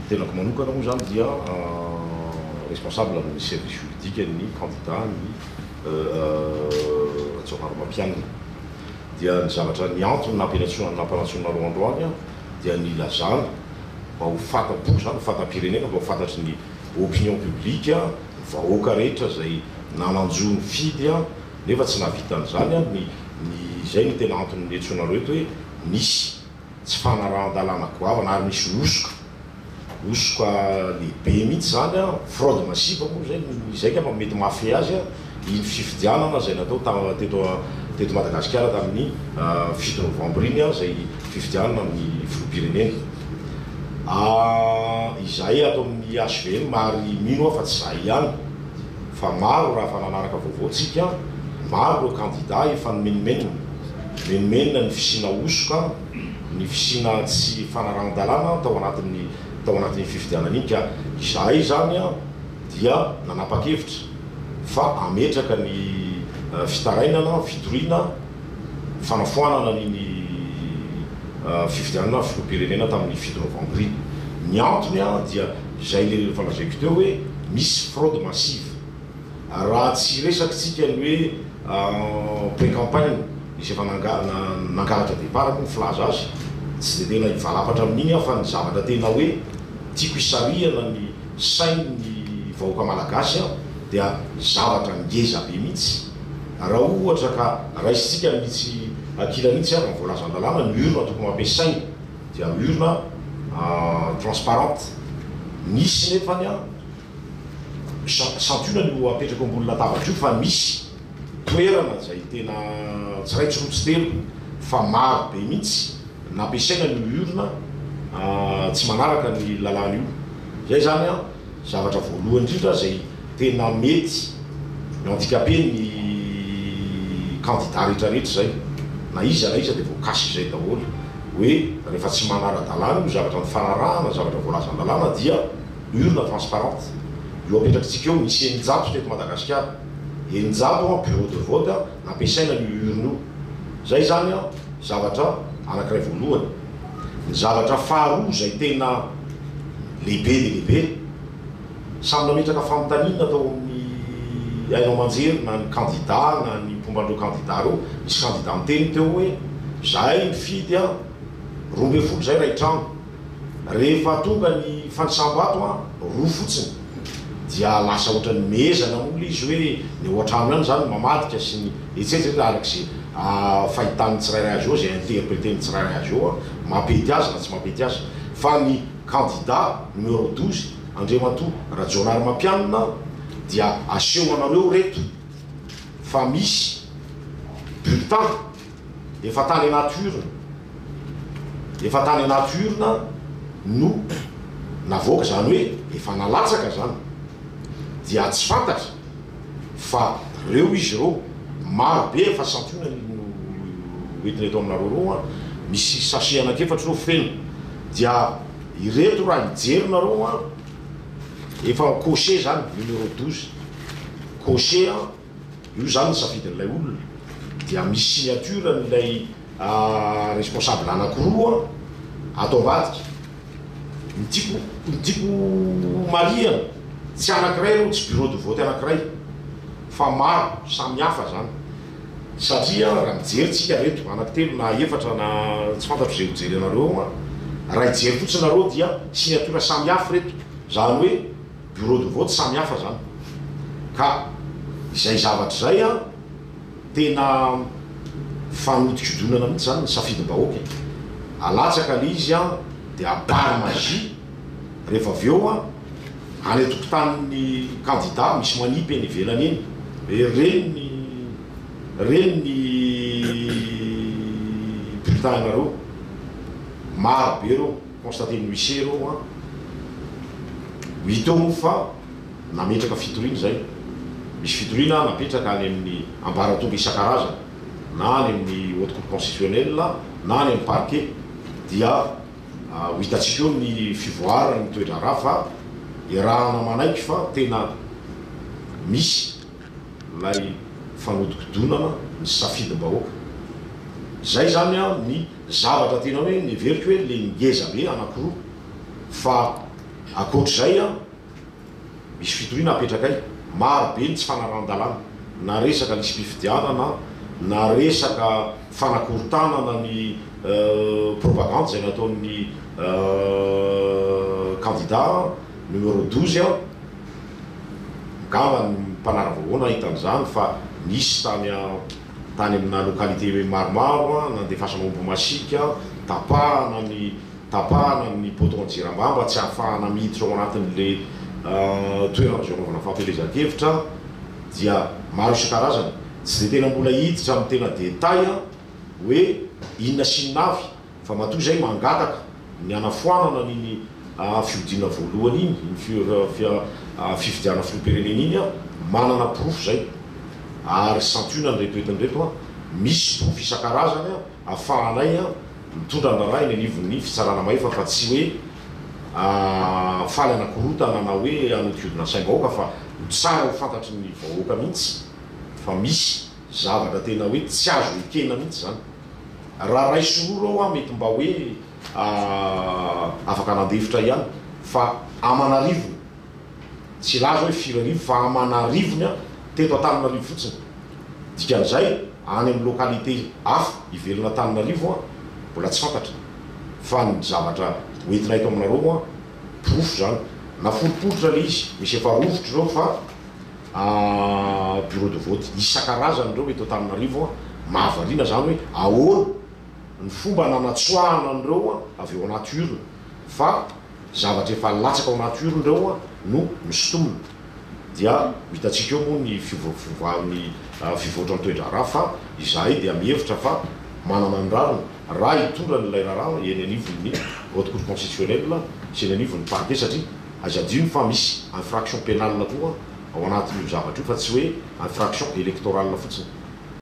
Ny tenako manokana moa izany dia responsable amin'ny service juridique ny candidat ny Rajaonarimampianina. Dia ny zavatra ny antony nampianatsoana nampanatsoinareo androany aho dia ny hilazana mba ho fanta-po izany ho fanta-pirenena mba ho fantatry ny opinion publique ny vahoaka rehetra izay nanan-jo nifidy aho nefa tsy nahavita an'izany aho ny ny izay no tena antony niantsoanareo eto hoe misy tsy fanarahan-dalàna goavana ary misy hosoka, hosoka lehibe mihitsy izany an, fraude massive moa izay no izay angamba no mety mahafehy azy an, iny fifidianana izay natao ta teto teto Madagasikara tamin'ny fito novambra iny an, izay fifidianana amin'ny filoham-pirenena. Ahh izahay ato amin'ny hvm ary mino aho fa tsy izahay ihany fa maro raha efa nanaraka vaovao-tsika an, maro ireo kandida efa nomenomenona, Menomenona ny fisiana hosoka, ny fisiana tsy fanarahan-dalàna tao anatin'ny tao anatin'iny fifidianana iny ka izahay izany dia nanapa-kevitra fa hametraka ny fitarainana, fitoriana, fanafoanana an'iny fifidianana filoham-pirenena tamin'ny fito novambra iny. Ny antony dia izay lehilehilen'ny efa lazaiko teo hoe misy fraude massive. Raha tsy resaky tsika ny hoe en plein campagne izay efa nangalatra départ akoho ny filaza azy, tsy dia tena hivalapatra amin'iny aho fa ny zavatra tena hoe tiako hisarihana ny sain'ny vahoaka malagasy aho dia zavatra ngeza be mihitsy, raha ohatra ka raisintsika mihitsy ankilany iny tsy ary ny voalazan'ny lalàna, ny urne tokony ho ampiasaina dia urne transparente, nisy nefany an. Santionany no apetrako ambony latabatra io fa misy toerana izay tena tsy iray tsy roa tsy telo fa maro be mihitsy nampiasaina ny olona tsy manaraka ny lalàna io. Izay izany an, zavatra voalohany indrindra izay tena mety handikape ny kandida rehetra rehetra izay na iza na iza dia voakasika izay daholo hoe rehefa tsy manara-dalàna io zavatra nifanarahana, zavatra voalazan'ny lalàna dia. urne transparente io apetrakitsika eo misy eninjato teto Madagasikara eninjato an bureau de vote an nampiasaina an io urne io zay zany an zavatra anakiray voalohany ny zavatra faharoa zay tena lehibe dia lehibe samy nametraka fanontaniana tao amin'ny haino aman-jery na ny kandida na ny mpomba an'ireo kandida ireo nisy kandida niteny teo hoe zahay mifidy an roa ambin'ny folo zay iray trano Rehefa tonga ny fandisam-bato an, roa fotsiny, dia lasa ohatran'ny mehezana mola izy hoe ny ao an-trano ihany izany mamadika sy ny ets. Ets. Ets. Araka izay fahitan'ny tsirairay azy eo, izay interpreter-n'ny tsirairay azy eo an, mampety azy na tsy mampety azy fa ny kandida numéro douze, Andriamatoa Rajaonarimampianina an, dia aseho anareo ireto fa misy bulletin. Efa tany anaty urne, efa tany anaty urne no navoaka, izany hoe efa nalatsaka izany, dia tsy fantatra fa ireo izy ireo, maro be efa santionany no hoentina eto aminareo ireo an, misy sachet anankiefatra ireo feno, dia ireto raha hijerinareo an, efa cocher izany, numéro douze, cocher an. Io izany ny safidin'ilay olona. Dia misy signature an'ilay responsable anankiroa ato ambadika. Ny tiako ny tiako marihana, tsy anankiray ireo, tsy bureau de vote anankiray fa maro, samy hafa izany. Satria raha mijery tsika ireto, anankitelo na efatra na tsy fantatro izay ho jerenareo ao an, raha hijery fotsiny nareo dia signature samy hafa ireto. Izany hoe. Bureau de vote samy hafa zany ka izay zavatra izay an tena fanodikodonana mihitsy zany ny safidim-bahoaka e! Alatsaka le izy an de à bar magie rehefa avy eo an any an-tokotanin'ny kandida misy manipy eny ivelany eny hoe reny ny reny ny bulletin anareo maro be reo Constater ny huissier aloha hoa mitombo fa nametraka fitoriana izay. Misy fitoriana napetraka any amin'ny ambaratonga isan-karazany na any amin'ny Haute Cour Constitutionnelle na any amin'ny Parquet dia ho hitantsika eo ny fivoaran'ny toe-draharaha fa iarahana manaiky fa tena misy ilay fanodikodonana ny safidim-bahoaka. Izay izany ny. Zavatra tena hoe neveriko hoe le ngeza be anakiroa fa akoatr'izay an misy fitoriana apetrakay, maro be ny tsy fanarahan-dalàna na resaka lisi-pifidianana na resaka fanakorontanana ny propagandy izay nataon'ny kandida numéro douze an, ngamba ny mpanara-voahoana hahita an'izany fa nisy tany an. Tany amina localité maromaro, nandefasana omby masiaka, tapahana ny tapahana ny poteau an-jirambà mba tsy hahafahana miditra ao anatin'ilay toerana azo anaovana fampielezan-kevitra dia maro isan-karazany. Tsy dia tena mbola hiditra amin'ny tena détail hoe inona sy inona avy. Fa matoa izay mangataka ny hanafoanana an'iny fiodiana voalohany iny, iny fifidianana filoham-pirenena iny aho, manana porofo izay. Ary santionany ireto entiny ireto an, misy porofo isan-karazany an, ahafahanay mitondra ny raharaha eny anivon'ny fitsarana mahefa fa tsy hoe faly hanakorontana na hoe hanodikodina ny saim-bahoaka fa ho tsara ho fantatry ny vahoaka mihitsy fa misy zavatra tena hoe tsy azo ekena mihitsy izany. Raha ray sy roro aho an mety mba hoe afaka nandefitra ihany fa aman'arivony tsy hilaza hoe firy arivo fa aman'arivony an teto Antananarivo fotsiny dikan'izay any amin'ny localité hafa ivelan' Antananarivo an mbola tsy fantatra fa ny zavatra hoentina eto aminareo an porofo izany naforiporitra ilay izy misy efa rovitra ireo fa bureau de vote isan-karazany ireo eto Antananarivo, mahavariana izany hoe ahoana ny fomba nanatsoahana an'ireo avy ao anaty urne fa zavatra efa latsaka ao anaty urne ireo no nosintomina. Dia ho hitantsika eo moa ny fiovampiovan'ny fivoatra ny toe-draharaha fa izahay dia mihevitra fa manana ny rariny raha hitondra an'ilay raharaha eny anivon'ny Haute Cour Constitutionnelle sy eny anivon'ny Parquet satria Aza adino fa misy infraction pénale koa ao anatin'io zavatra io fa tsy hoe infraction électorale fotsiny.